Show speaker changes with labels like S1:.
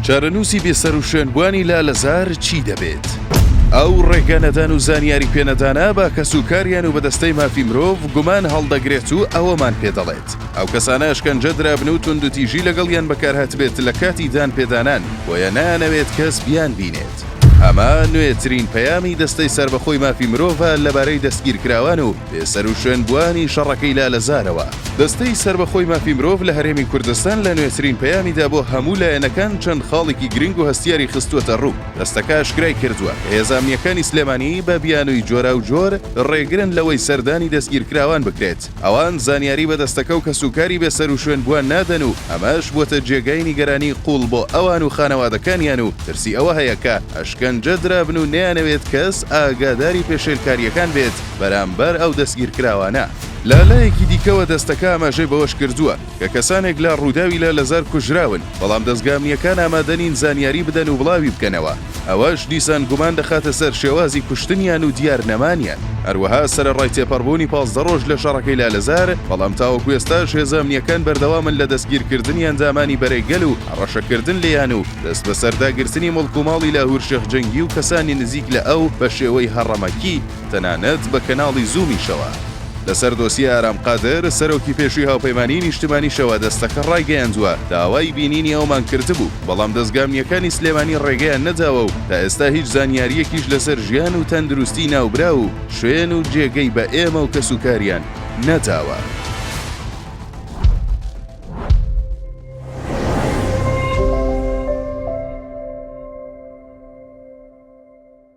S1: چارەنووسی بێسەروشوێن بوانی لالەزار چی دەبێت؟ ئەو ڕێگە نەدان و زانیاری پێنەدانە بە کەس و کاریان و بەدەستەی مافی مرۆڤ گومان هەڵدەگرێت و ئەوەمان پێ دەڵێت ئەو کەسانە ئەشکەنجە درابن و توندوتیژی لەگەڵیان بەکارهاتبێت لە کاتی دان پێدانان بۆیە نانەوێت کەس بیان بینێت. ئەمە نوێترین پەیامی دەستەی سەربەخۆی مافی مرۆڤە لەبارەی دەستگیرکراوان و بێ سەروشوێن بووانی شەڕەکەی لالەزارەوە، دەستەی سەربەخۆی مافی مرۆڤ لە هەرێمی کوردستان لە نوێترین پەیامیدا بۆ هەموو لایەنەکان چەند خاڵێکی گرنگ و هەستیاری خستووەتە ڕوو. دەستەکە ئاشکرای کردووە کە هێزە ئەمنییەکانی سلێمانی بە بیانووی جۆراوجۆر ڕێگرن لەوەی سەردانی دەستگیرکراوان بکرێت، ئەوان زانیاری بە دەستەکە و کەسوکاری بێ سەروشوێن بووان نادەن و ئەمەش بووەتە جێگای نیگەرانی قووڵ بۆ ئەوان و خانەوادەکانیان و ترسی ئەوە هەیە کە ئەشکەنجە درابن و نەیانەوێت کەس ئاگاداری پێشێلکارییەکان بێت. بەرامبەر ئەو دەستگیرکراوانە. لە لایەکی دیکەوە دەستەکە ئاماژەی بەوەشکردووە، کە کەسانێک لە رووداوی لالەزار کوژراون، بەڵام دەزگا ئەمنییەکان ئامادەنین زانیاری بدەن و بڵاویبکەنەوە، ئەوەش دیسان گومان دەخاتە سەر شێوازی کوشتنیان و دیارنەمانیان. هەروەها سەرەڕای تێپەڕبوونی پازدە رۆژ لە شەڕەکەی لالەزار، بەڵام تاوەکو ئێستاش هێزە ئەمنییەکان بەردەوامن لە دەستگیرکردنی ئەندامانی بەرەی گەل و هەڕەشەکردن لێیان و دەستبەسەرداگرتنی مڵک و ماڵی لاهور شێخ جەنگی و کەسانی نزیک لە ئەو بەشێوەی هەڕەمەکی. تەنانەت بە کەناڵی زوومیشەوە. لەسەر دۆسیە ئارام قادر، سەرۆکی پێشووی هاوپەیمانیی نیشتمانیشەوە دەستەکە ڕایگەیاندووە، داوای بینینی ئەومان کردبوو، بەڵام دەزگا ئەمنییەکانی سلێمانی ڕێگەیان نەداوە و تا ئێستا هیچ زانیارییەکیش لەسەر ژیان و تەندروستیی ناوبراو و شوێن و جێگەی بە ئێمە و کەسوکاریان نەداوە.